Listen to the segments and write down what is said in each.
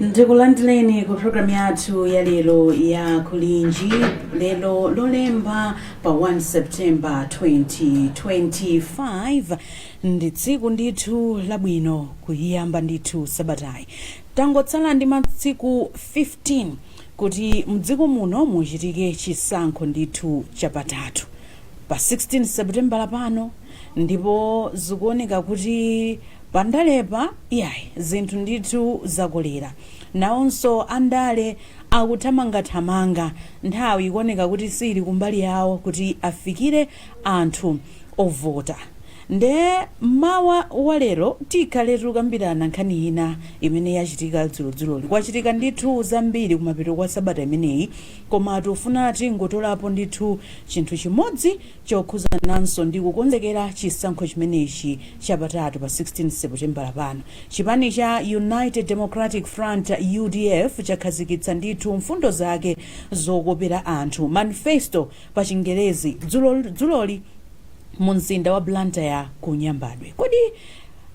ndikulandileni ku programu yathu ya lero ya kulinji lero lolemba pa 1 september 2025 ndi tsiku ndithu labwino kuyiyamba ndithu sabatayi tangotsala ndi matsiku 15 kuti mdziko muno muchitike chisankho ndithu chapatatu pa 16 Seputembala lapano ndipo zikuoneka kuti pandalepa iyayi zinthu ndithu zakolera. Nawonso andale akuthamangathamanga, nthawi ikuoneka kuti siili kumbali yawo kuti afikire anthu ovota. Nde m'mawa wa lero tikhaletu kukambirana nkhani ina imene yachitika dzulodzuloli. Kwachitika ndithu zambiri kumapeto kwa sabata imeneyi Koma tufuna tingotolapo ndithu chinthu chimodzi chokhuzananso ndi kukonzekera chisankho chimenechi chapatatu pa 16 Seputembala lapano. Chipani cha United Democratic Front, udf, chakhazikitsa ndithu mfundo zake zokopera anthu, manifesto pa chingerezi, dzulo dzuloli munzinda wa Blantyre ku Nyambadwe. Kodi.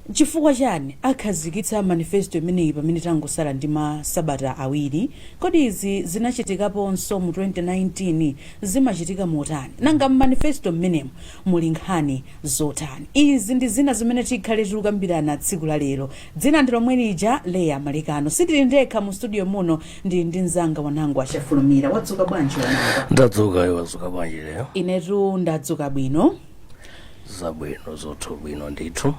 N'chifukwa chani akhazikitsa manifesto imeneyi pamene tangosala ndi ma sabata awiri? Kodi izi zinachitikaponso mu 2019? Zimachitika motani? Nanga m'manifesto m'menemu muli nkhani zotani? Izi ndi zina zimene tikhale tikukambirana tsiku la lero. Dzina ndi lomwe lija, Leah Malekano. Sindili ndekha mu studio muno, ndili ndi mzanga Wanangwa Chafulumira. Wadzuka bwanji Wanangwa? Ndadzuka, iwe wadzuka bwanji Leah? Inetu ndadzuka bwino. zabwino zothu bwino ndithu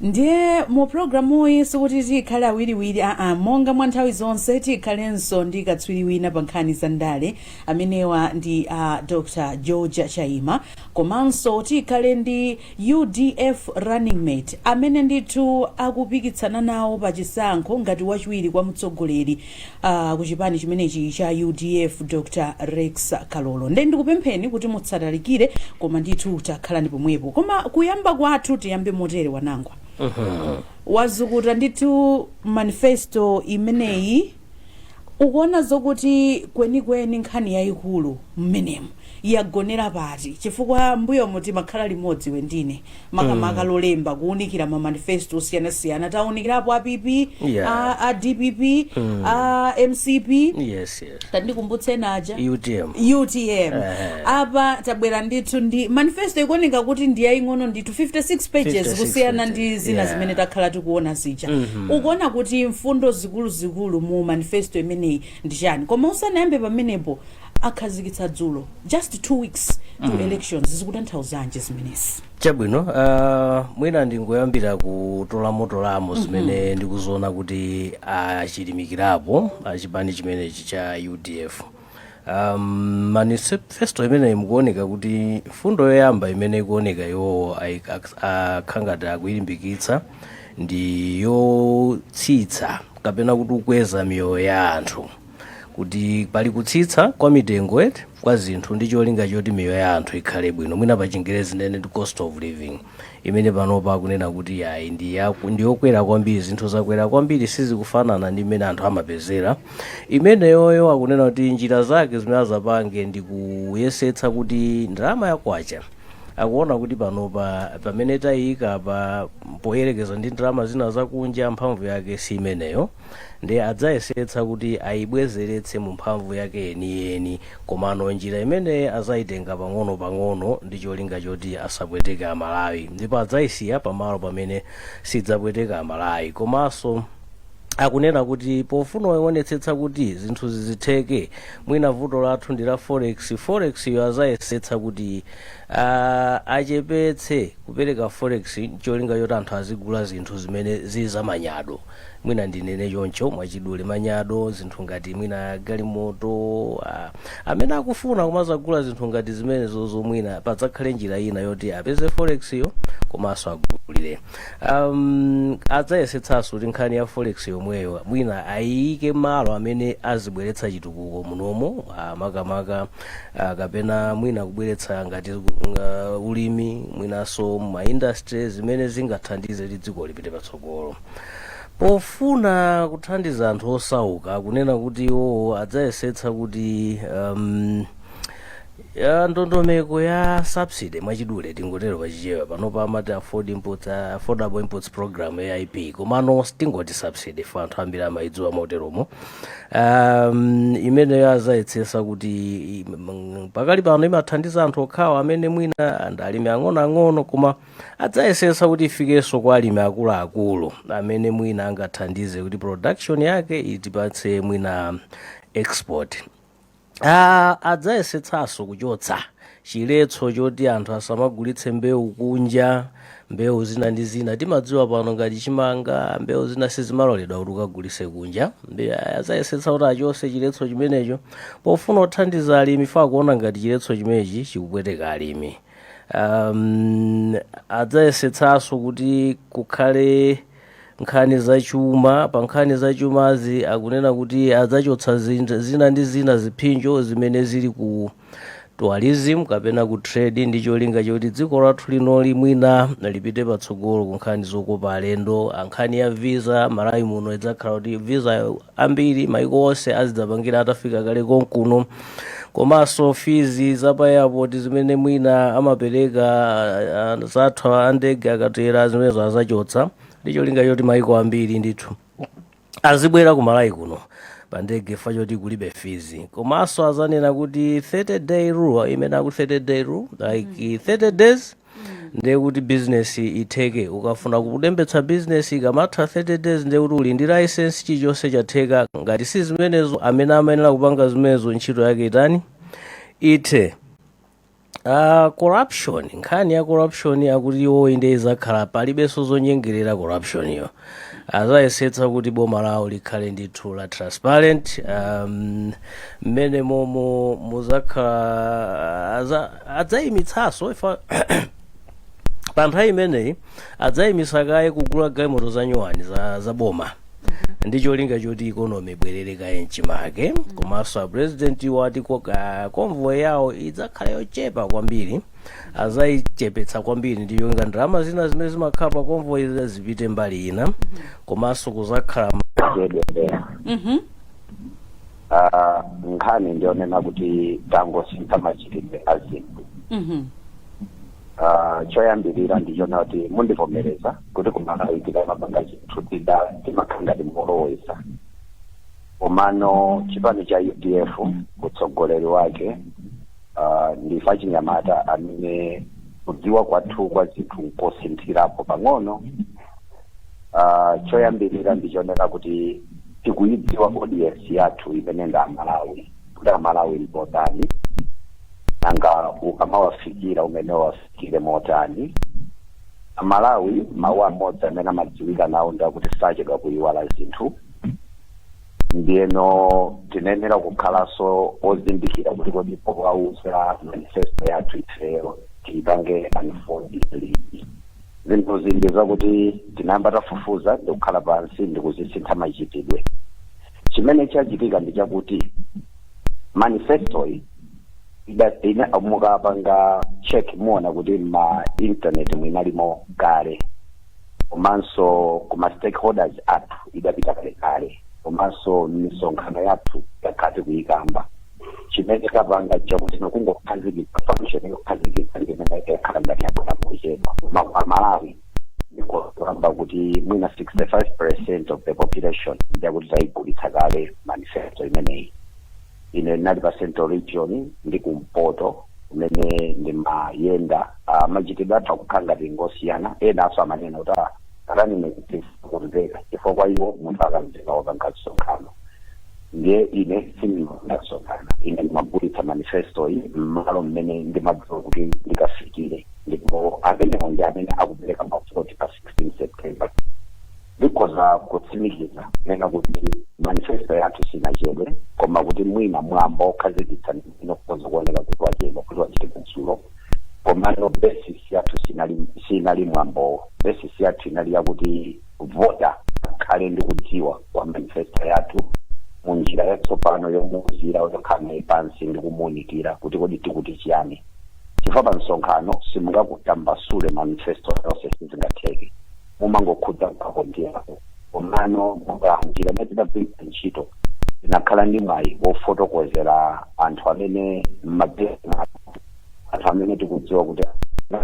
ndiye mu programuyi sikuti tikhale awiriwiri aa monga mwa nthawi zonse tikhalenso ndi katswiri wina pa nkhani za ndale amenewa ndi a dr george chaima komanso tikhale ndi udf running mate amene ndithu akupikitsana nawo pa chisankho ngati wachiwiri kwa mtsogoleri a kuchipani chimenechi cha udf dr rex kalolo nde ndikupempheni kuti musatalikire koma ndithu takhalani pomwepo koma kuyamba kwathu tiyambe motere wanangwa wazukuta ndithu manifesto imeneyi ukuona zokuti kwenikweni nkhani yayikulu mmenemu yagonera pati chifukwa mbuyomu timakhala limodzi iwe ndi ine makamaka lolemba kuunikira ma manifesto osiyanasiyana taunikirapo a pp Yeah. a, a dpp a mcp yes yes tandikumbutse naja utm utm apa tabwera ndithu ndi manifesto ikuoneka kuti ndi yaying'ono ndithu 56 pages 56 pages, yeah. kusiyana ndi zina zimene takhala tikuona zija ukuona kuti mfundo zikuluzikulu mu manifesto imeneyi ndi chani koma usanayambe pamenepo akhazikitsa dzulo just two weeks to mm. elections zikutanthauzanji zimenezi chabwino uh, mwina ndingoyambira kutolamotolamo zimene mm -hmm. ndikuziona kuti achilimikirapo achipani chimenechi cha udf um, manifesto imeneyi mukuoneka kuti mfundo yoyamba imene ikuoneka iwowo akukhala ngati akuyilimbikitsa ndi yotsitsa kapena kuti kukweza miyoyo ya anthu kuti pali kutsitsa kwa mitengo eti kwa zinthu ndi cholinga choti miyoyo ya anthu ikhale bwino mwina pa chingerezi tinene ndi cost of living imene panopa akunena kuti ayi ndi yaku- ndi yokwera kwambiri zinthu zakwera kwambiri sizikufanana ndi mmene anthu amapezera imeneyoyo akunena kuti njira zake zimene azapange ndi kuyesetsa kuti ndalama ya kwacha akuona kuti panopa pamene tayiyika pa poyerekeza ndi ndalama zina zakunja mphamvu yake si imeneyo Ndiye adzayesetsa kuti aibwezeretse mu mphamvu yake yeniyeni, komano njira imeneyi azaitenga pang'onopang'ono ndi cholinga choti asapweteke Amalawi, ndipo adzaisiya pamalo pamene sidzapweteka Amalawi. Komanso akunena kuti pofuna kuonetsetsa kuti zinthu zizitheke, mwina vuto lathu ndi la forex, forex-yo azayesetsa kuti uh, achepetse kupereka forex ncholinga choti anthu azigula zinthu zimene zili zamanyado. mwina ndinene choncho mwachidule manyado zinthu ngati mwina galimoto ah, amene akufuna kumazagula zinthu ngati zimenezozo mwina padzakhale njira ina yoti apeze forex-yo komanso agulire um, adzayesetsanso kuti nkhani ya forex yomweyo mwina ayiyike malo amene azibweretsa chitukuko munomo ah, makamaka ah, kapena mwina kubweretsa ngati uh, ulimi mwinanso ma industry zimene zingathandize kuti dziko lipite patsogolo pofuna kuthandiza anthu osauka akunena kuti iwowo adzayesetsa kuti um, ya ndondomeko ya subsidy mwachidule tingotero pachichewa panopa amati afford inputs, uh, affordable inputs program aip komano tingoti subsidy fo anthu ambiri amayidziwa moteromo um, imeneyo azayesetsa kuti i- m- pakali pano imathandiza anthu okhawa amene mwina ndi alimi ang'onoang'ono koma adzayesetsa kuti ifikenso kwa alimi akuluakulu amene mwina angathandize kuti production yake itipatse mwina export Ah, adzayesetsanso kuchotsa chiletso choti anthu asamagulitse mbewu kunja mbewu zina ndi zina timadziwa pano ngati chimanga mbewu zina sizimaloledwa kuti ukagulitse kunja Mbe- adzayesetsa kuti achotse chiletso chimenecho pofuna kuthandiza alimi fa akuona ngati chiletso chimenechi chikupweteka alimi um, adzayesetsanso kuti kukhale nkhani zachuma pa nkhani zachumazi akunena kuti adzachotsa zin- zina ndi zina ziphinjo zimene zili ku tourism kapena ku trade ndi cholinga choti dziko lathu linoli mwina lipite patsogolo ku nkhani zokopa alendo Ah, nkhani ya visa malawi muno idzakhala kuti visa ambiri maiko onse azidzapangira atafika kale konkuno komanso fees za pa airport zimene mwina amapereka ah, ah, zathu a ndege akatera zimenezo azachotsa ndi cholinga choti maiko ambiri ndithu azibwera ku malawi kuno pa ndege fa choti kulibe fees komanso azanena kuti 30 day rule imene akuti 30 day rule like 30 days ndiye kuti business itheke ukafuna kulembetsa business ikamatha 30 days ndiye kuti uli ndi license chilichonse chatheka ngati si zimenezo amene amayenera kupanga zimenezo ntchito yake itani ithe Uh, corruption nkhani ya corruption akuti iwo inde izakhala palibenso zonyengerera corruption yo azayesetsa kuti boma lawo likhale ndithu la transparent um, mmene momo muzakhala aza- adzayimitsanso ifa pa nthawi imeneyi adzayimitsa kaye kugula galimoto za nyuwani za, za boma ndi cholinga choti ikonomi ibwerere kaye mchimake komanso a president wati ko- ah, convoy yawo idzakhala yochepa kwambiri azayichepetsa kwambiri ndi cholinga ndalama zina zimene zimakhala pa convoy zina zipite mbali ina komanso kuzakhala zedwelera Mhm. Ah, nkhani ndiyonena kuti tangosintha machitidwe a zinthu Mhm. Ah, choyambirira ndichonena kuti mundivomereza kuti ku malawi tikamapanga zinthu tida timakhala ngati moloweza komano chipani cha udf utsogoleri wake Ah, ndife achinyamata amene kudziwa kwathu kwa zinthu nkosinthirapo pang'ono Ah, choyambirira ndichonena kuti tikuyidziwa audience yathu imene ndi amalawi kuti amalawi ndotani nanga ukamawafikira umenewo uwafikire motani amalawi mawu amodzi amene amadziwika nawo ndi akuti sachedwa kuyiwala zinthu ndiyeno tinayenera kukhalanso ozindikira kuti kodi powauza manifesto yathu ifeyo tiipange unfold liti zinthuzi ndi zakuti tinayamba tafufuza ndikukhala pansi ndikuzisintha machitidwe chimene chachitika ndi chakuti manifestoyi ida- ina mukapanga check muona kuti ma internet muinalimo kale komanso kuma stakeholders athu idapita kalekale komanso mmisonkhano yathu takhala tikuyikamba chimene tapanga chakuti ndi kungokhazikitsa function yokhazikitsa ndi imene yakhala ngati yabwera mochedwa koma kwa amalawi ndikukamba kuti mwina 65 percent of the population ndiyakuti tayigulitsa kale manifesto imeneyi ine ndinali pa central region ndi kumpoto kumene ndimayenda ah, machitidwe athu akukhala ngati ngosiyana enanso amanena kuti ah, atanene kuti kumveka chifukwa kwa iwo munthu akamveka wopanga msonkhano ndiye ine sindimapanga msonkhano ine ndimagulitsa manifesto iyi mmalo mmene ndimadziwa kuti ndikafikire ndipo amenewo ndi amene akupereka mavoti pa 16 september Ndikhoza kutsimikiza kunena kuti manifesto yathu sinachedwe koma kuti mwina mwambo okhazikitsa ndi umene ukhoza kuoneka kuti wachedwa kuti wachitika dzulo komano basis yathu sinali, sinali mwambowo basis yathu inali yakuti voter akhale ndi kudziwa kwa manifesto yathu mu njira yatsopano yomuuzira yokhala naye pansi ndi kumuunikira kuti kodi tikuti chiyani chifukwa pa msonkhano simungatambasule manifesto yonse sizingatheke mumangokhudza apo ndi apo komano monga njira imene tinagwiritsa ntchito tinakhala ndi mwayi wofotokozera anthu amene mmabezi anthu amene tikudziwa kuti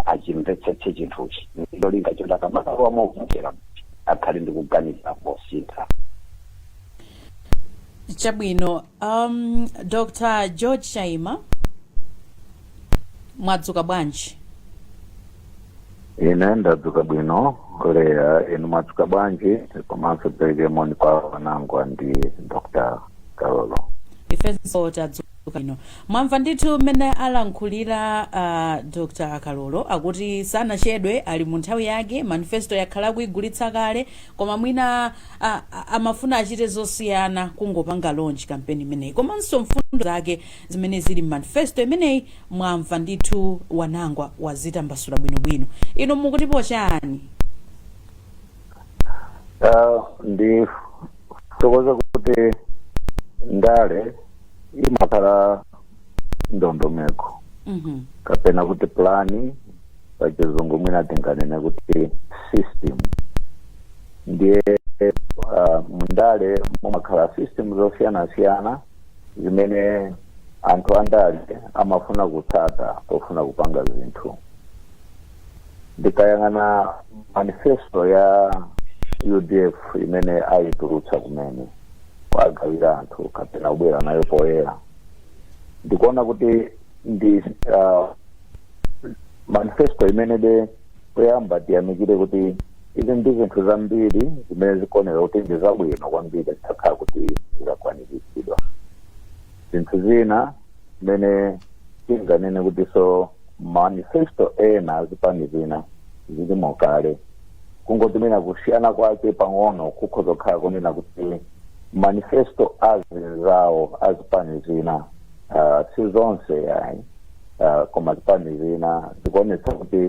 achimvetsetse chinthuchi ndi cholinga choti akamakalowa movotera akhale ndi kuganiza kosinthika chabwino Um, Dr. George Chaima mwadzuka bwanji? ine ndadzuka bwino leya inu mwadzuka bwanji komanso tipereke moni kwa a wanangwa ndi dr kalolo ifenso tadzuka bwino mwamva ndithu mmene alankhulira uh, dr kalolo akuti sanachedwe ali mu nthawi yake manifesto yakhala akuyigulitsa kale koma mwina a, a, amafuna achite zosiyana kungopanga launch campaign imeneyi komanso mfundo zake zimene zili mmanifesto imeneyi mwamva ndithu wanangwa wazitambasula bwinobwino inu mukutipo chani Ah, ndithokoze kuti ndale imakhala ndondomeko Mhm. kapena kuti pulani pachizungu mwina tinganene kuti system ndiye uh, mundale mumakhala system zosiyanasiyana zimene anthu andale amafuna kutsata pofuna kupanga zinthu ndikayang'ana manifesto ya udf imene ayitulutsa kumene kuwagawira anthu kapena kubwera nayo poyera ndikuona kuti ndi uh, manifesto imene de poyamba tiyamikire kuti izi ndi zinthu zambiri zimene zikuoneka kuti ndi zabwino kwambiri zitakhala kuti zikakwaniritsidwa zinthu zina zimene tinganene kuti so manifesto ena azipani zina zilimo kale kungoti mwina kusiyana kwake pang'ono kukhoza kukhala kunena kuti manifesto azinzawo azipani zina uh, si zonse yayi uh, koma zipani zina zikuonetsa kuti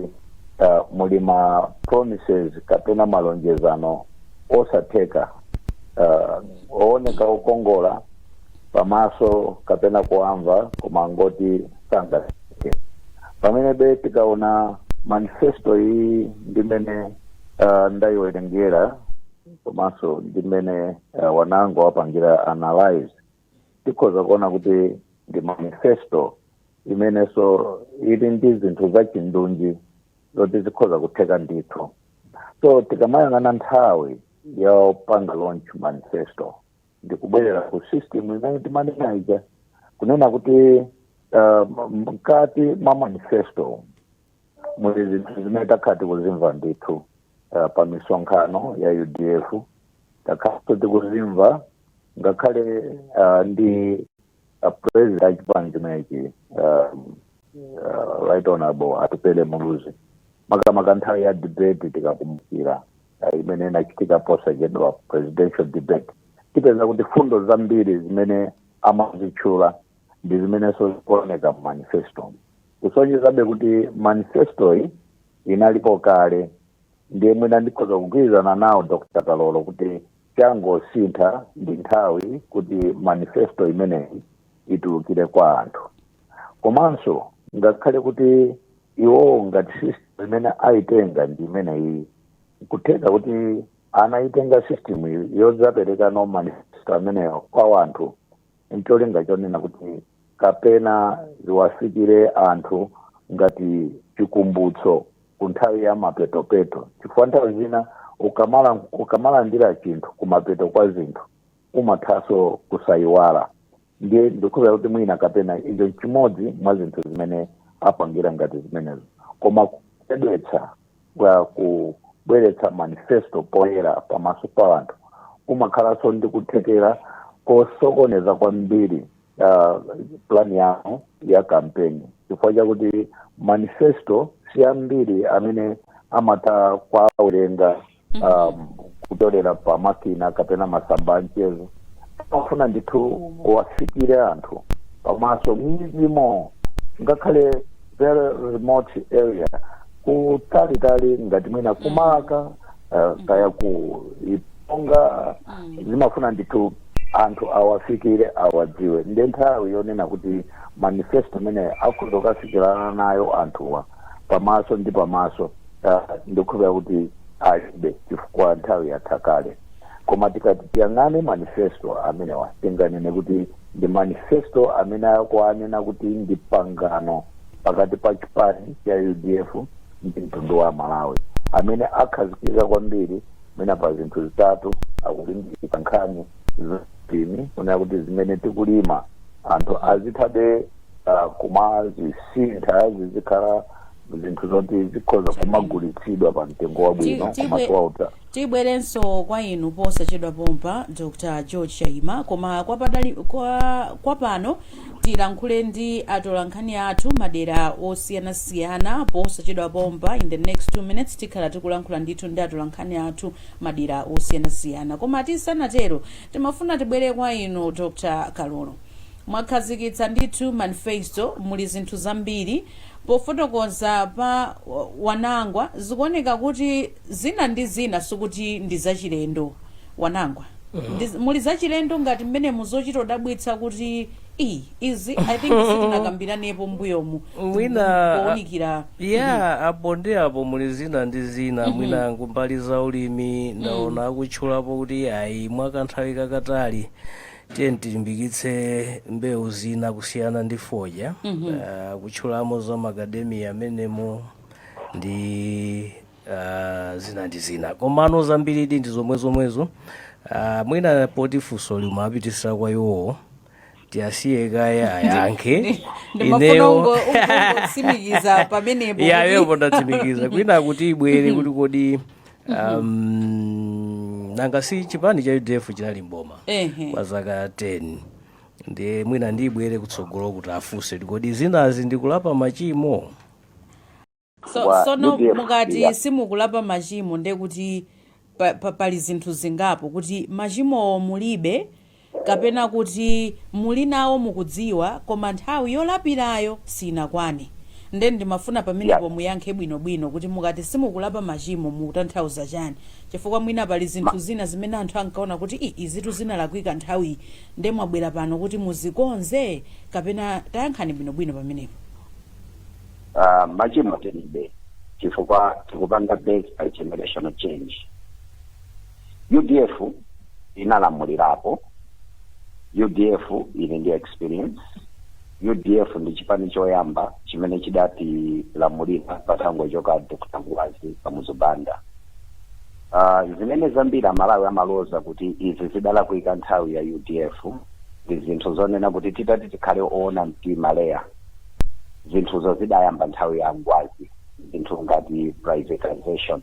uh, muli ma promises kapena malonjezano osatheka uh, ooneka okongola pamaso kapena kuwamva koma ngoti sangatheke pamenebe tikaona manifesto iyi ndi mmene uh, ndayiwerengera komanso ndi mmene uh, anangowapangira analyze tikhoza kuona kuti ndi manifesto imenenso ili ndi zinthu zachindunji zoti zikhoza kutheka ndithu so tikamayang'ana nthawi yopanga launch manifesto ndikubwerera ku system imene timanena ija kunena kuti uh, m- mkati mwa manifesto muli zinthu zimene takhala tikuzimva ndithu uh, pa misonkhano ya udf takhalanso tikuzimva ngakhale uh, ndi uh, president a chipani chimenechi um, uh, right honorable atupele muluzi makamaka nthawi ya debate tikakumbukira eh, imene inachitika posachedwa presidential debate tipeza kuti fundo zambiri zimene amazitchula ndi zimenenso zikuoneka mu manifesto kusonyezabe kuti manifestoyi inalipo kale ndiye mwina ndikhoza kugwirizana nawo dr kalolo kuti changosintha ndi nthawi kuti manifesto imeneyi itulukire kwa anthu komanso ngakhale kuti iwowo ngati system imene ayitenga ndi imene iyi nkutheka kuti anayitenga system iyi yodzaperekano manifesto ameneyo kwa wanthu ncholinga chonena kuti kapena ziwafikire anthu ngati chikumbutso ku nthawi ya mapetopeto chifukwa nthawi zina ukamala- ukamalandira chinthu kumapeto kwa zinthu umathanso kusayiwala ndiye ndikukhulupirira kuti mwina kapena icho nchimodzi mwa zinthu zimene apangira ngati zimenezi koma kubweretsa kwa kubweretsa manifesto poyera pamaso pa anthu kumakhalanso ndi kuthekera kosokoneza kwambiri uh, plani yawo ya kampeni chifukwa chakuti manifesto si ambiri amene amatha kuwawerenga um, kutolera pa makina kapena masamba a mchezo zimafuna ndithu uwafikire anthu pamaso m'midzimo ngakhale very remote area kutalitali ngati mwina kumaka uh, kaya ku iponga zimafuna ndithu anthu awafikire awadziwe nde nthawi yonena kuti manifesto amenewo akhoza kukafikirana nayo anthuwa pamaso ndi pamaso ah, ndikukhulupira kuti alibe chifukwa nthawi yatha kale koma tikati tiyang'ane manifesto amenewa tinganene kuti ndi manifesto amene akuwanena kuti ndi pangano pakati pa chipani cha udf ndi mtundu wa malawi amene akhazikika kwambiri mwina pa zinthu zitatu akulimbikitsa nkhani za ulimi kunena kuti zimene tikulima anthu azithabe ah, kumazisintha zizikhala zinthu zoti zikhoza kumagulitsidwa pa mtengo wabwino Ti- koma tibwe- kuwauta tibwerenso kwa inu posachedwa pompa dr george chaima koma kwa, padali, kwa, kwa pano tilankhule ndi atolankhani athu madera osiyanasiyana posachedwa pompa in the next two minutes tikhala tikulankhula ndithu ndi atolankhani athu madera osiyanasiyana koma tisanatero timafuna tibwere kwa inu dr kalolo mwakhazikitsa ndithu manifesto muli zinthu zambiri pofotokoza pa wanangwa zikuoneka kuti zina ndi zina sikuti ndi zachilendo wanangwa ndi, muli zachilendo ngati mmene muzochita kudabwitsa kuti i izi i think sitinakambiranepo mbuyomu Mwina- pounikira ya apo ndi apo muli zina ndi zina mwina kumbali za ulimi ndaona akutchulapo kuti iyayi mwakanthawi kakatali tiyeni tilimbikitse mbewu zina kusiyana ndi fodya Ah, kutchulamo za makadamiya amenemo ndi ah, zina ndi zina komano zambiridi ndi zomwe zomwezo Ah, mwina poti funso limapitisira kwa iwowo tiyasiye kaye ayankhe ndimafuna ungo- ungotsimikiza pamenepo kuti- yayo potatsimikiza kwina kuti ibwere kuti kodi um, nanga si chipani cha udf chinali m'boma Ehe. kwa zaka 10 ndiye mwina ndibwere kutsogolo kuti afunse kodi zinazi ndikulapa machimo so, Wa- sono UDF, mukati yeah. simukulapa machimo ndekuti pa, pa, pali zinthu zingapo kuti machimowo mulibe Kapena kuti, Muli nawo mukudziwa, koma nthawi yolapirayo sinakwane. Nde ndimafuna pamenepo muyankhe bwinobwino kuti mukati simukulapa machimo mukutanthauza chani? Chifukwa mwina pali zinthu zina zimene anthu ankaona kuti ii izitu zinalakwika nthawiyi nde mwabwera pano kuti muzikonze? Kapena tayankhani bwinobwino pamenepo. Ah, machimo tilibe chifukwa tikupanga base pa generational change. udf inalamulirapo udf ili ndi experience udf ndi chipani choyamba chimene chidatilamulira patangochoka Dr Ngwazi kamuzu banda uh, zimene zambiri amalawi amaloza kuti izi zidalakwika nthawi ya udf ndi zinthu zonena kuti titati tikhale oona mtima leya zinthuzo zidayamba nthawi ya ngwazi zinthu ngati privatization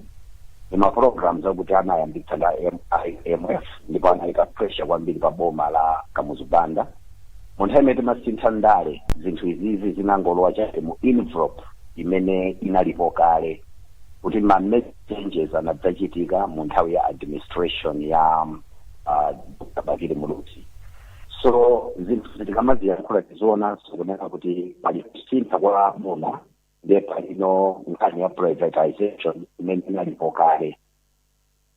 ndi ma programs akuti anayambitsa ndi a IMF ndipo anayika pressure kwambiri pa boma la kamuzu banda mu nthawi imene timasintha ndale zinthu izizi zinangolowa chabe mu envelope imene inalipo kale kuti ma changes anadzachitika mu nthawi ya administration ya uh, Dr. bakili muluzi so zinthu zi tikamaziyankhula tizoonanso kunena kuti pali kusintha kwa boma ndiye palinso nkhani ya privatization imene inalipo kale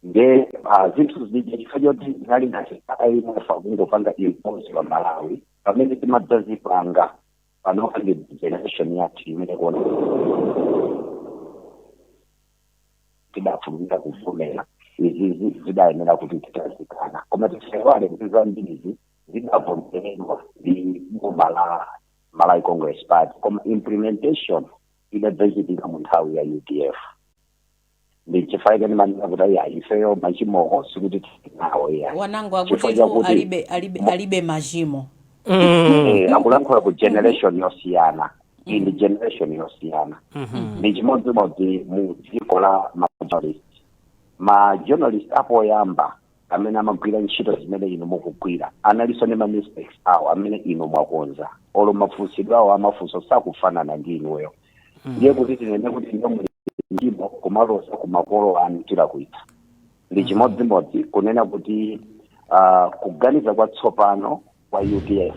nde ah, zinthu zija chifukwa choti zinali ngati imf akungopanga impose pa malawi pamene timadzazipanga panopa ndi generation yathu imene kuona tidafulumira kuvomera izizi zidayenera kuti tidazikana koma tisaiwale kuti zambirizi zidavomeredwa ndi boma la Malawi Congress Party koma implementation idadzachitika mu nthawi ya UDF ndi chifukwa chake timanena kuti ayi ayi ifeyo machimowo sikuti tili nawo iyayi Wanangwa Chifukwa akuti tu chakuti- alibe alibe alibe machimo Eh, akulankhula ku generation yosiyana iyi ndi generation yosiyana ndi chimodzimodzi mu dziko la ma journalist majournalist apoyamba amene amagwira ntchito zimene inu mukugwira analinso ndi mamistakes awo amene inu mwakonza olo mafunsidwe awo amafunso sakufanana ndi inuyo ndiye kuti tinene kuti inuyo muli ndi machimo kumaloza ku makolo anu tilakwitsa ndi chimodzimodzi kunena kuti ah, kuganiza kwatsopano kwa udf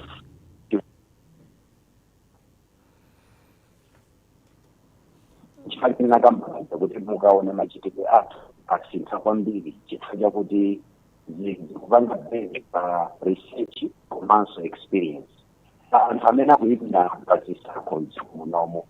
chifukwa china nkamba za kuti mukaone machitidwe athu asintha kwambiri chifukwa chakuti zi- zikupanga base pa research komanso experience Pa anthu amene akuimira pa zisankho mdziko munomo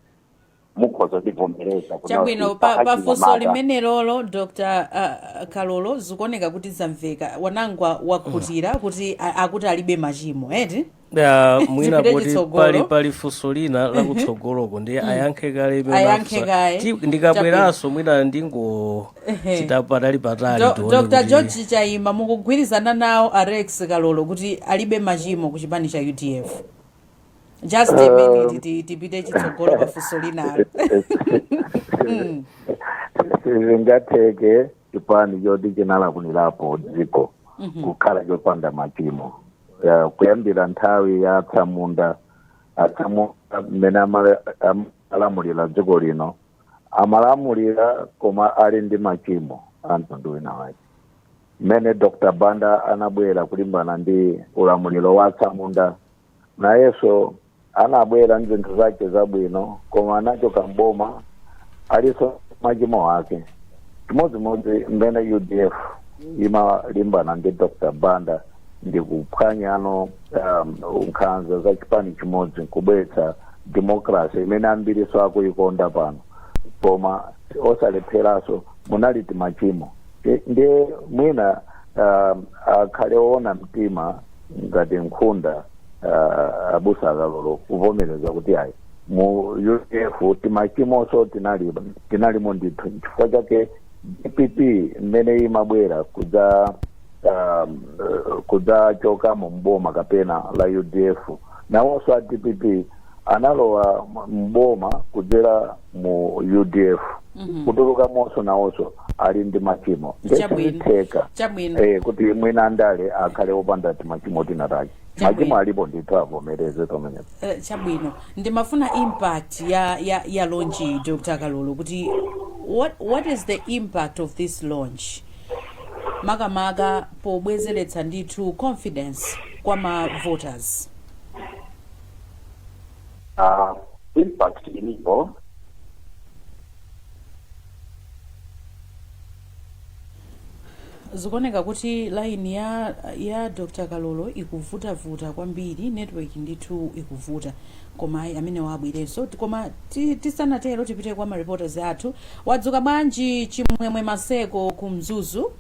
mukhoza kundivomereza kuti chabwino kuti pa, pa pakachita funso mata. limenelolo dr uh, kalolo zikuoneka kuti zamveka wanangwa wakhutira kuti a- akuti alibe machimo eti Ah, mwina Zipite kuti chitsogolo. pali pali funso lina lakutsogoloko ndiye ayankhe kale imene Ayankhe unafunsa. kaye. Ti- ndikabweranso mwina ndingo Ehe. pita patali patali Do- tione dr kuti- george chaima mukugwirizana nawo a rex kalolo kuti alibe machimo ku chipani cha udf just a minute ti- tipite chitsogolo pafunso linalo Mm. sizingatheke chipani choti chinalamulirapo dziko kukhala chopanda machimo ya, kuyambira nthawi ya atsamunda atsamunda mmene amale- am- alamulira dziko lino amalamulira koma ali ndi machimo a mtundu wina wake mmene dr banda anabwera kulimbana ndi ulamuliro wa atsamunda nayenso anabwera nzinthu zake zabwino koma anachoka mboma aliso machimo ake chimodzimodzi mmene udf imalimbana ndi dr banda ndi kuphwanyano um, nkhanza za chipani chimodzi kubweretsa demokrasi imene ambiriso akuikonda pano koma osalepheranso munali timachimo Ndi- ndiye mwina um, akhale oona mtima ngati nkhunda ah, abusa akalolo kuvomereza kuti ayi mu udf timachimoso tinali tinalimo ndithu chifukwa chake dpp mmene imabwera kudza um, eh, kudzachoka mu mboma kapena la udf nawonso a dpp analowa m- mboma kudzera mu udf kutuluka monso nawonso ali ndi machimo Chabwino. nde sizitheka Chabwino. eh, kuti mwina andale akhale opanda timachimo tinatake Chabwino. machimo alipo ndithu avomereze pamenepo Eh, chabwino ndimafuna impact ya ya ya launch iyi dr kalolo kuti what, what is the impact of this launch makamaka pobwezeretsa ndithu confidence kwa ma voters uh, impact ilipo zikuoneka kuti line ya ya dr kalolo ikuvutavuta kwambiri network ndithu ikuvuta koma ayi amene wabwerenso Ti- koma ti- tisanatero tipite kwa mareporters athu wadzuka bwanji chimwemwe maseko ku mzuzu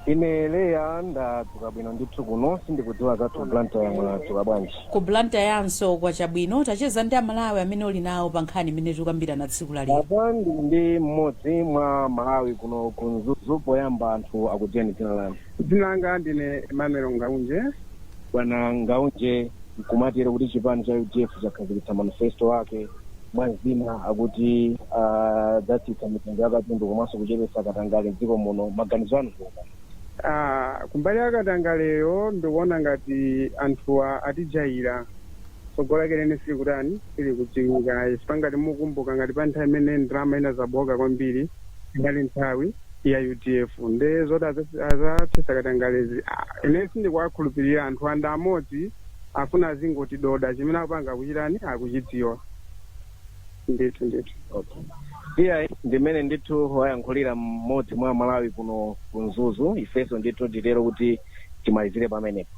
Ine Leah ndadzuka bwino ndithu kuno sindikudziwa zathu ku Blantyre mwadzuka bwanji? Ku Blantyrenso kwacha bwino, tacheza ndi aMalawi amene uli nawo pa nkhani imene tikukambirana tsiku la lero. Apa ndili ndi mmodzi mwa Malawi kuno ku Mzuzu, poyamba anthu akudziweni dzina lanu? Dzina langa ndine Emmanuel Ngaunje. Bwana Ngaunje, nkumatero kuti chipani cha udf chakhazikitsa manifesto ake. mwa zina akuti adzatsitsa mitengo ya katundu komanso kuchepetsa katangale mdziko muno maganizo anu ndi otani Ah, kumbali ya katangaleyo ndikuona ngati anthuwa atijaira tsogolo lake lene sili kutani sili kudziwika chifukwa ngati mukumbuka ngati pa nthawi imene ndalama inazabooka kwambiri inali nthawi ya udf nde zoti aza- azathetsa katangalezi ah, ine sindikuwakhulupirira anthuwa ndi amodzi afuna azingotidoda chimene akupanga akuchitani akuchidziwa ndithu ndithu Okay. Iyayi ndi mmene ndithu wayankhulira mmodzi mwa Malawi kuno ku Mzuzu. Ifenso ndithu titero kuti timalizire pamenepo.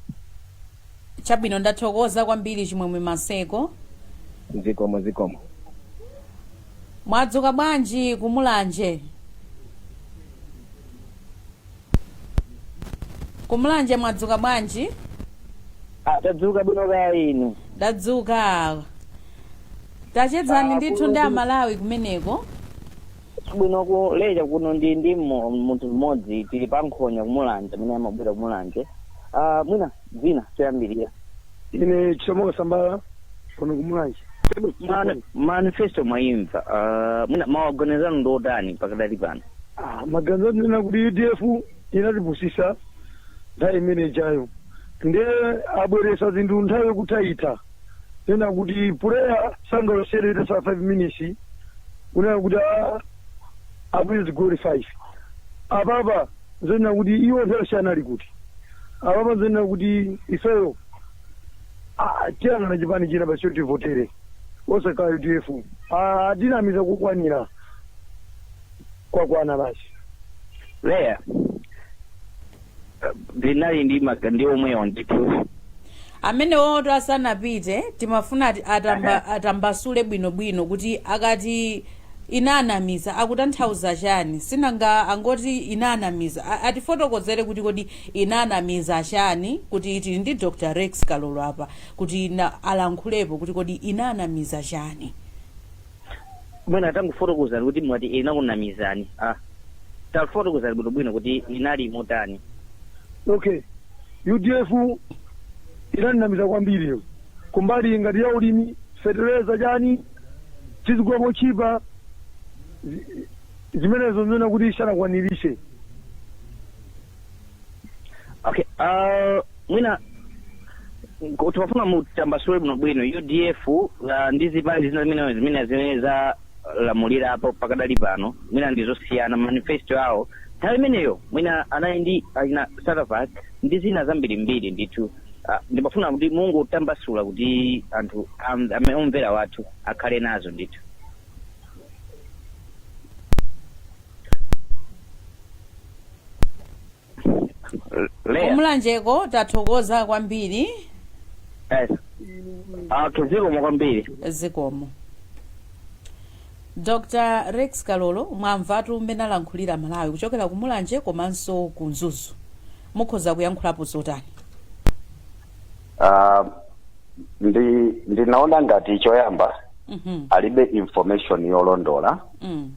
chabwino ndathokoza kwambiri chimwemwe maseko Zikomo zikomo. mwadzuka bwanji kumulanje Kumulanje mwadzuka bwanji? Ah, tadzuka bwino kaya inu. Ndadzuka. Tachezani Ah, ndithu ndi Amalawi kumeneko. Bwino ku Leah kuno ndili ndi mmo- munthu mmodzi tili pa nkhonya kumulanje amene amabwera kumulanje. Ah, mwina dzina choyambirira. ine chisomo kasambala kuno kumulanje Man- manifesto mwayimva uh, mwina maganizo anu ndi otani pakadali pano Ah, maganizo ndinena kuti udf inatipusisa nthawi imene ijayo nde abweresa zinthu nthawi yokuthaitha nena kuti puleya sangalowesedwe itasala five minutes kunena kuti ah, abweze zigoli five apapa zonena kuti iwo nthawi yonse anali kuti apapa zonena kuti ifeyo ah, tiyang'ana chipani china basi tivotere osakhala udf atinamiza kukwanira kwakwana basi Leah ndinali ndi omwewo ndithu Amenewotu asanapite timafuna atamba atambasule bwino bwino kuti akati inanamiza akutanthauza chani sinanga angoti inanamiza A- atifotokozere kuti kodi inanamiza chani kuti tili ndi Dr Rex Kalolo apa kuti na, alankhulepo kuti kodi inanamiza chani. Mwina tangofotokozani kuti mwati inakunamizani. Ah. Tafotokozani bwino bwino kuti inali motani. Okay. UDF inandinamiza kwambiri. Kumbali ngati ya ulimi, feteleza chani, tizigula mochipa. zi- Zimenezo ndiona kuti sanakwaniritse. okay uh, mwina ngo- tikufuna mutambasule bwino bwino udf uh, ndi zipani zina zimene zimene zimene zalamulirapo pakadali pano mwina ndi zosiyana manifesto awo nthawi imeneyo mwina anali ndi achina saravat ndi zina zambirimbiri ndithu uh, ndimafuna kuti mungotitambasulira kuti anthu am- ame- omvera wathu akhale nazo ndithu leya ku Mulanjeko tathokoza kwambiri yes. okay zikomo kwambiri zikomo dr rex kalolo mwamvatu mmene alankhulira Amalawi kuchokera ku Mulanje komanso ku mzuzu mukhoza kuyankhulapo zotani Ah, ndi ndinaona ngati choyamba Mhm. alibe information yolondola Mm.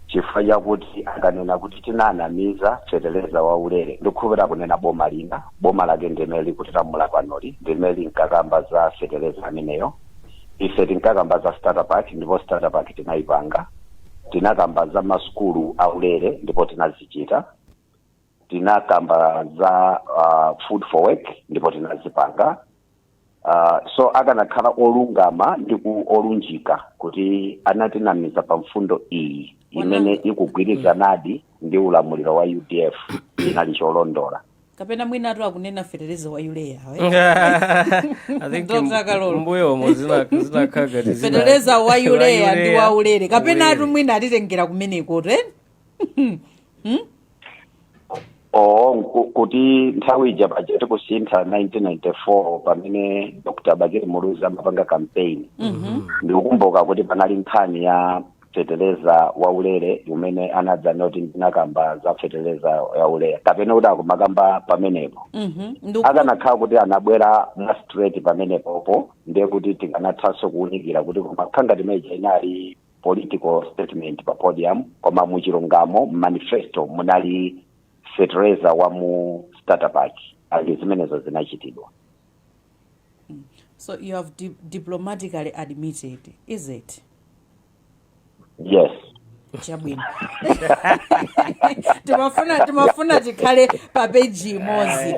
chifukwa chakuti akanena kuti tinanamiza feteleza wa ulere ndikukhulupirira kunena boma lina boma lake ndi limene likutilamula panoli ndi limene linkakamba za feteleza ameneyo ife tinkakamba za starter pack ndipo starter pack tinayipanga tinakamba za masukulu a ulere ndipo tinazichita tinakamba za uh, food for work ndipo tinazipanga uh, so akanakhala olungama ndi ku olunjika kuti anatinamiza pa mfundo iyi imene ikugwirizanadi ndi ulamuliro wa udf chinali cholondola kapena mwinatu akunena fetereza wa urea I think Dr. mbu- Kalolo. mbuyo umo zina- zinakhala ngati zina- fetereza wa urea ndi wa ulere kapenatu Ulere. mwina atitengera kumeneko te oo nku- kuti nthawi ija paja tikusintha 1994 pamene dr bakili muluzi amapanga campaign ndikukumbuka kuti panali nkhani ya feteleza waulere umene anadzanena kuti ndinakamba za feteleza yaulere kapena kuti akumakamba pamenepo akanakhala kuti anabwera mwa straight pamenepopo ndiye kuti tikanathanso kuwunikira kuti koma nkhani ngati imene ija inali political statement pa podium koma mu chilungamo mu manifesto munali fertilizer wa mu starter pack ndi zimenezo zinachitidwa So you have di- diplomatically admitted, is it? yes chabwino timafuna timafuna tikhale pa peji imodzi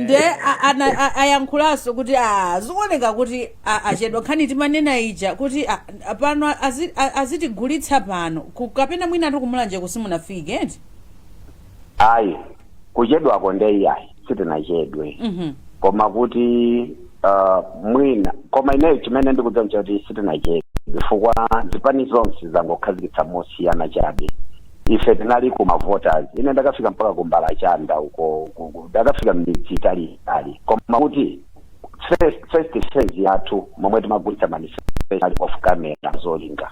nde a- ana- a- ayankhulanso kuti a zikuoneka kuti a- achedwa nkhani timanena ija kuti a, pano azi, a- azitigulitsa pano Ku- kapena mwinatu kumulanje kuti simunafike eti ayi kuchedwako ndeyayi sitinachedwe Mhm. koma kuti uh, mwina koma ineyo chimene ndikudziwa nchoti sitinachedwe chifukwa zipani zonse zangokhazikitsa mosiyana chabe ife tinali ku mavoters ine ndakafika mpaka ku mbalachanda uko ku- ku- ndakafika mmidzi italiitali koma kuti first first phase yathu momwe timagulitsa manifesto off camera zolinga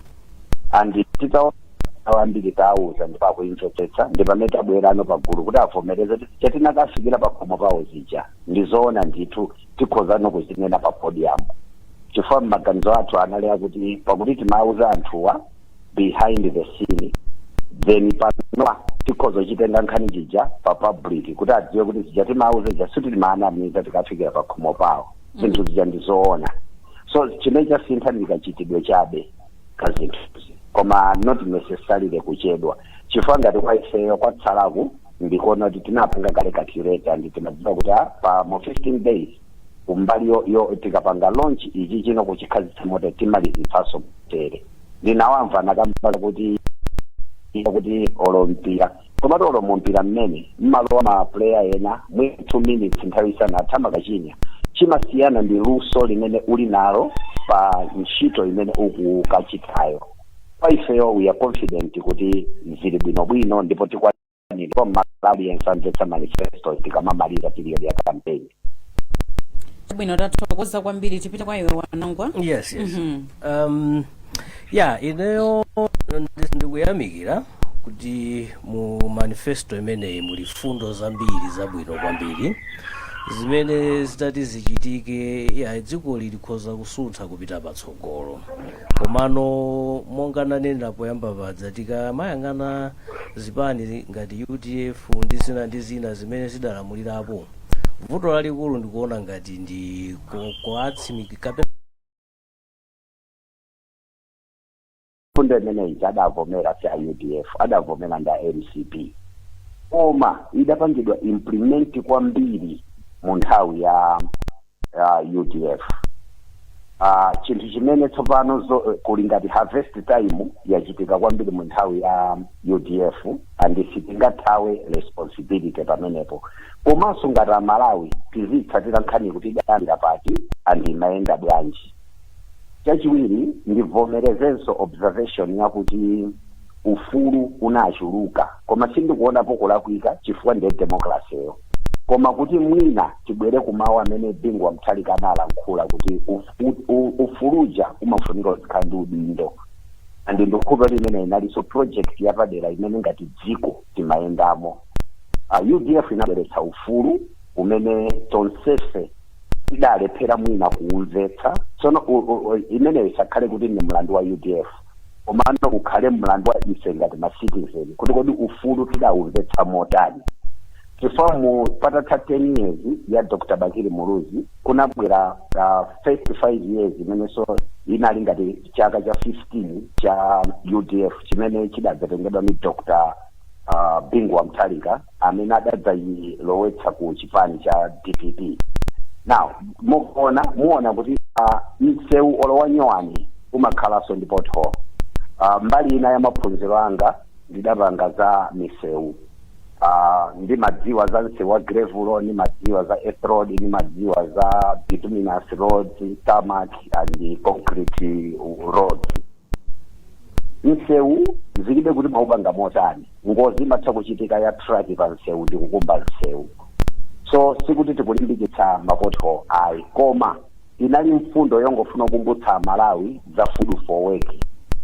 and titaona ambiri tauza ndipo akuimvetsetsa ndi pamene tabwerano pagulu kuti avomereze kuti zija tinakafikira pakhomo pawo zija ndi zoona ndithu tikhozano kuzinena pa podium chifukwa m'maganizo athu anali akuti pakuti timauza anthuwa behind the scene then panopa tikhoza kuitenga nkhani ija pa public kuti adziwe kuti zija timawauza zija sikuti timawanamiza tikafikira pa khomo pawo zinthu zija ndi zoona so chimene chasintha ndi kachitidwe chabe ka zinthuzi koma not necessarily kuchedwa chifukwa ngati kwa ifeyo kwatsalaku ndikuona kuti tinapanga kale calculator ndi timadziwa kuti ah, pa mu 15 days kumbaliyo tikapanga launch ichi tinachikhazitsa motere timalizitsanso tere ndinawamva akukamba kuti ika kuti olo mpira komatu olo mumpira mmene mmalowa ma player ena mu 2 minutes nthawi isanatha nkukachinya chimasiyana ndi luso limene uli nalo pa ntchito imene ukukachitayo kwa ifeyo we are confident kuti zili bwinobwino ndipo tikwa nkhani ndipo mmalawi yense amvetsa manifesto tikamamaliza period ya campaign bwino tathokoza kwambiri tipite kwa iwe wanangwa yes yes Mhm. um, ya ineyo ndi- ndikuyamikira kuti mu manifesto imeneyi muli fundo zambiri zabwino kwambiri zimene zitati zichitike ya dziko likhoza kusuntha kupita patsogolo komano monga ndanenera poyamba paja tikamayang'ana zipani ngati udf ndi zina ndi zina zimene zidalamulirapo vuto lalikulu ndikuona ngati ndi ku- kuwatsimikizi kapena fundo imeneyi adavomera si a udf adavomera ndi a mcp koma idapangidwa implement kwambiri mu nthawi ya ya udf Ah, chinthu chimene tsopano zo- eh, kuli ngati harvest time yachitika kwambiri mu nthawi ya udf and sitingathawe responsibility pamenepo komanso ngati amalawi tizitsatira nkhani kuti idayambira pati and imayenda bwanji chachiwiri ndivomerezenso observation yakuti ufulu unachuluka koma sindikuonapo kulakwika chifukwa ndiye demokrasiyo koma kuti mwina tibwere ku mawu amene Bingu wa Mutharika analankhula kuti uf- u- u- ufulu uja umafunika uzikhala ndi udindo and ndikhulupirira kuti imene inalinso project yapadera imene ngati dziko timayendamo uh, udf inabweretsa ufulu umene tonsefe tidalephera mwina kuumvetsa tsono u- u- u- imeneyo isakhale kuti ndi mlandu wa udf komano ukhale mlandu wa ife ngati ma citizen kuti kodi ufulu tidaumvetsa motani chifukwa mu- patatha 10 years ya dr bakili muluzi kunabwera uh, first 5 years imenenso inali ngati chaka cha 15 cha udf chimene chidadzatengedwa ndi dr uh, bingu wa mutharika amene adadzayilowetsa ku chipani cha dpp now mukuona muona kuti uh, msewu olo wanyowani umakhalanso ndi pothole uh, mbali ina ya maphunziro anga ndidapanga za misewu uh, ndimadziwa za msewu wa gravel ndimadziwa za earth road ndimadziwa za bituminous roads tarmac and concrete roads msewu zilibe kuti mwaupanga motani ngozi imatha kuchitika ya truck pa msewu ndi kukumba msewu so sikuti tikulimbikitsa ma pothole ayi koma inali mfundo yongofuna kukumbutsa amalawi za food for work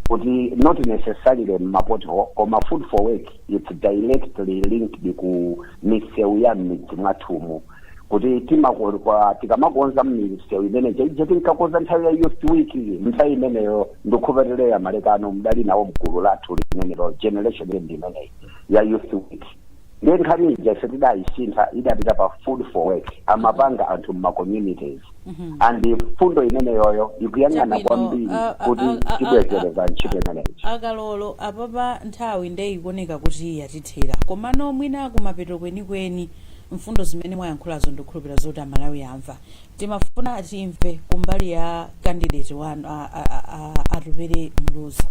kuti not necessarily ma pothole koma food for work it's directly linked ku misewu ya m'midzi mwathumo kuti timakon- kwa- tikamakonza misewu imene jaija tinkakonza nthawi ya youth week nthawi imeneyo ndikhulupirira a malekano mudali nawo mgulu lathu limenelo generation imeneyi ya youth week ndiye nkhani ija ife tidayisintha idapita pa food for work amapanga anthu m'macommunities and mfundo imeneyoyo ikuyang'ana Chabwino, kwambiri ah, ah, kuti ah, ah, tibwezeretsa ntchito imeneyo a kalolo apapa nthawi nde ikuoneka kuti yatithera komano mwina kumapeto kwenikweni mfundo zimene mwayankhulazo ndikukhulupirira zoti amalawi amva timafuna timve kumbali ya kandideti wanu a- a- a- a- atupere muluzi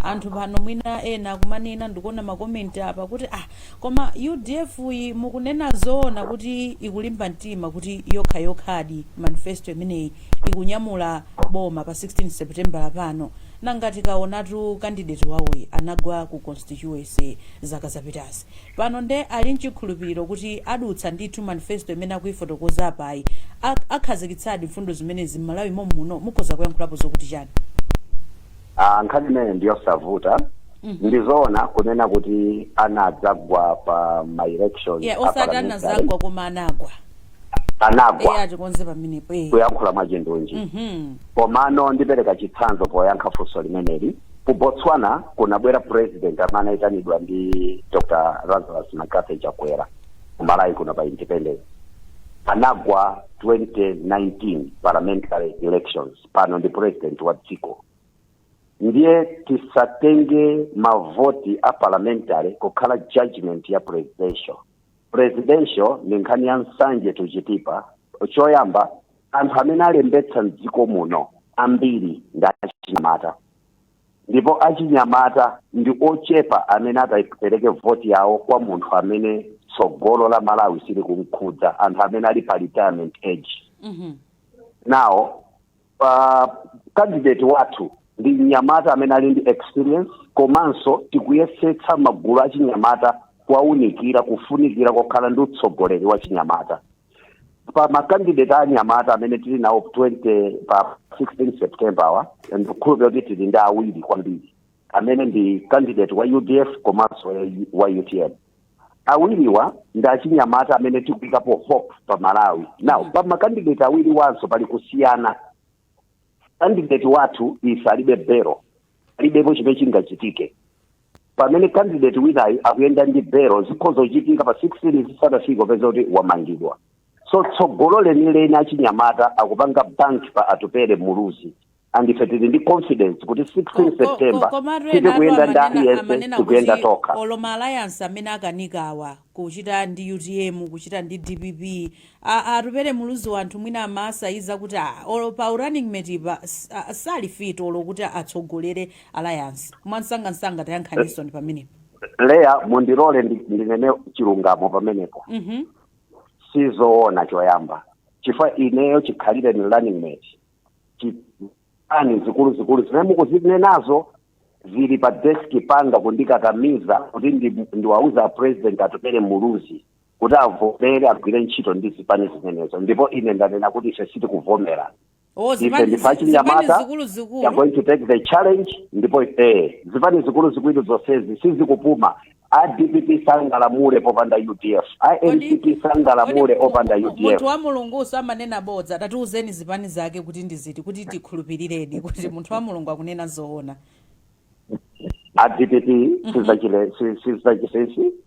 anthu pano mwina ena akumanena ndikuona makomenti apa kuti ah koma udf-yi mukunena zoona kuti ikulimba mtima kuti yokha yokhadi manifesto imeneyi ikunyamula boma pa 16 september pano nanga tikaonatu kandideti wawoyi anagwa ku constituency zaka zapitazi Pano nde ali nchikhulupiriro kuti adutsa ndithu manifesto imene akuifotokoza apayi, ak akhazikitsadi mfundo zimenezi m'Malawi mommuno, mukhoza kuyankhulapo zokuti chani? A, nkhani imeneyo ndi yosavuta. Ndi zoona kunena kuti anadzagwa pa ma elections Yeah, a parliamentary. osati anadzagwa koma anagwa. Eh, Anagwa atikonze pamenepo. Eh. kuyankhula mwachindunji. Mhm. Komano ndipereka chitsanzo poyankha funso limeneli. Ku Botswana kunabwera president amene anaitanidwa ndi Dr. Lazarus McCarthy Chakwera ku Malawi kuno pa independence. Anagwa 2019 parliamentary elections pano ndi president wa dziko. Ndiye tisatenge mavoti a parliamentary kukhala judgment ya presidential. Presidential ndi nkhani ya nsanje tuchitipa choyamba Anthu amene alembetsa m'dziko muno ambiri ndi achinyamata ndipo achinyamata ndi ochepa amene atapereke voti yawo kwa munthu amene tsogolo la Malawi silikumkhudza, anthu amene ali pa retirement age. Mm -hmm. Now uh, candidate wathu ndi mnyamata amene ali ndi experience komanso tikuyesetsa magulu achinyamata kuwaunikira kufunikira kokhala ndi utsogoleri wa chinyamata. pa makandidate anyamata amene tili nawo 20 pa 16 september ndikukhulupirira kuti tili ndi awiri kwambiri amene ndi candidate wa udf komanso wa- wa utm awiriwa ndi achinyamata amene tikuyikapo hope pa malawi now pa makandidate awiriwanso pali kusiyana kandideti wathu ife alibe bero alibepo chimene chingachitike pamene kandideti winayi akuyenda ndi bero zikhoza kuchitika pa 16 zisanafike kupeza kuti wamangidwa so tsogolo lenileni achinyamata akupanga bank pa atupele muluzi and ife tili ndi confidence kuti 16 september komatu ena sitikuyenda ndi aliyense amanena kuti tikuyenda tokha olo ma alliance amene akanikawa kuchita ndi utm kuchita ndi dpp aa atupele muluzi anthu mwina amasaiza kuti aa olo pa u running mate pa aa sali fit olo kuti atsogolere alliance mwamsangamsanga tayankhaninsoni pamenepo leya mundilole ndi- ndinene chilungamo pamenepo mhm sizoona choyamba chifukwa ineyo chikhalireni running mate Chi- ani zikuluzikulu zimene mukuzinenazo zili pa deski panga kundikakamiza kuti ndi- ndiwauza a president atupele muluzi kuti avomere agwire ntchito ndi zipani zimenezo ndipo ine ndanena kuti ife sitikuvomera ife ndife achinyamata we are going to take the challenge ndipo eh, zipani zikuluzikulu zonsezi sizikupuma a dpp sangalamule popanda udf a mcp sangalamule opanda udf munthu wa mulungu samanena bodza tatiuzeni zipani zake kuti ndi ziti kuti tikhulupiriredi kuti munthu wa mulungu akunena zoona a dpp sizachile sizachilesi